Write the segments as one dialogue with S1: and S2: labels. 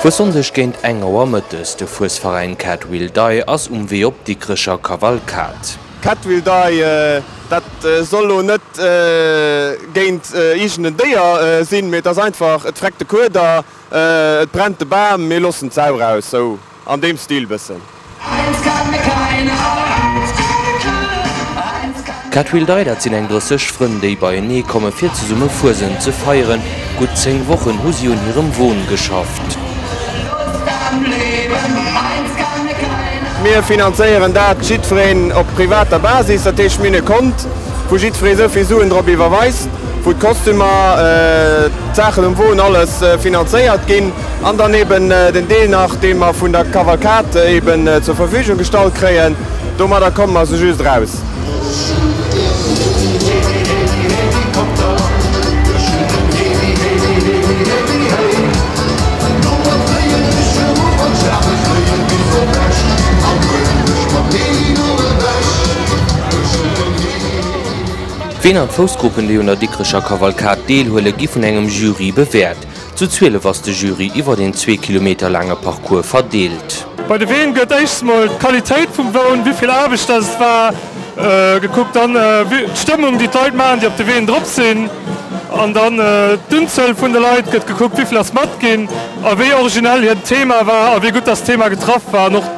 S1: Vu Sonndeg géint eng Auer mëttes, de Fuesveräin Cat Will Die ass um Wee op d'Dikrecher Kavalkad. Cat Will
S2: Die, dat soll lo net géint iergenden Déier sinn, mee et ass einfach, et freckt de Kueder. Et brennt de Bam, mir lossen d'Sau raus, sou an deem Stil bëssen.
S1: D'Cat Wheel Day, dat sinn eng drësseg Frënn, déi beienee komme fir zesumme Fuesent ze feieren. Gutt 10 Wochen hu si un hirem Won geschafft.
S2: Mir finanzéieren dat jiddwereen op privater Basis, dat heescht mir hunn e Kont, wou jiddweree esou vill Suen drop iwwerweist. wou d'Kostümer, d'Saachen um Won, alles finanzéiert ginn, an dann eben den Deel nach, dee mer vun der Kavalkad eben zur Verfügung gestallt kréien. Domadder komme mer sou just eraus.
S1: Ween an d'Foussgruppen déi un der Dikrecher Kavalkad deel huelen gi vun engem Jury bewäert. Zu 12 ass de Jury iwwert een zwee Kilometer laange Parcours verdeelt. Bei de Ween gëtt
S3: éischst mol d'Qualitéit vum Woun, wivill Aarbecht dat et war, gekuckt, dann d'Stëmmung déi d'Leit maachen déi op de Ween drop sinn an dann d'Unzuel vun de Leit gëtt gekuckt, wivill ass mat ginn a wéi originell hiert Thema war a wéi gutt dass d'Thema getraff war.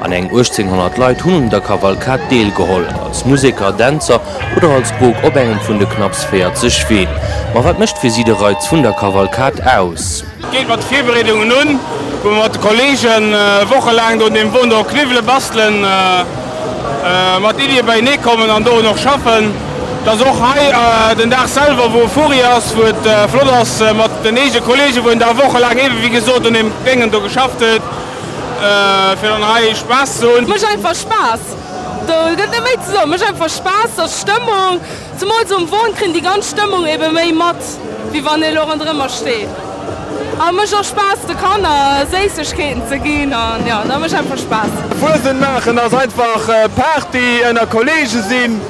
S1: An eng 1800 Leit hunn un der Kavalkad deelgeholl, als Museker, Dänzer oder als Bok op engem vun de knapps 40 Ween. Ma wat mécht fir si de Reiz vun der Kavalkad aus? Geet mat de Virbereedungen
S2: un, wou mer mat de Kolleegen wochelaang do un deem Won do kniwwelen, bastelen, mat Iddie beienee kommen an dorun och schaffen. Et ass och hei den Dag selwer, wou e Furi ass, wou et flott ass mat den eege Kolleegen, wou een da wochelaang, eeben wéi gesot, un deem Déngen do geschafft huet. Fir dann hei Spaass ze hunn. Mécht einfach
S4: Spaass. Do gëtt net méi ze soen. Mécht einfach Spaass, ass Stëmmung. Zemools um Won kritt een déi ganz Stëmmung ebe méi mat, wéi wann ee elo ronderëmmer steet. A mécht och Spaass de Kanner Séissegkeeten ze ginn an jo, da mécht einfach Spaass. Fuesent maachen
S2: ass einfach Party, ënner Kolleege sinn,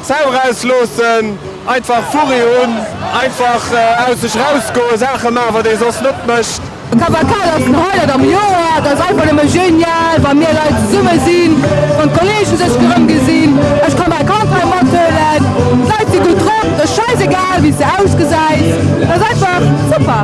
S2: d'Sau erausloossen, einfach Furri hunn, einfach aus sech rausgoen, Saache maachen, wat ee soss net mécht. D'Cavacade ass den
S4: Highlight am Joer. Et ass einfach nëmme genial, wa mir Leit zesumme sinn, wann d'Kollege sech erëm gesinn. Ech ka mäi Kand hei mathuelen. D'Leit si gutt drop. Et ass schäisegal, wéi s de ausgesäis. Et ass einfach super.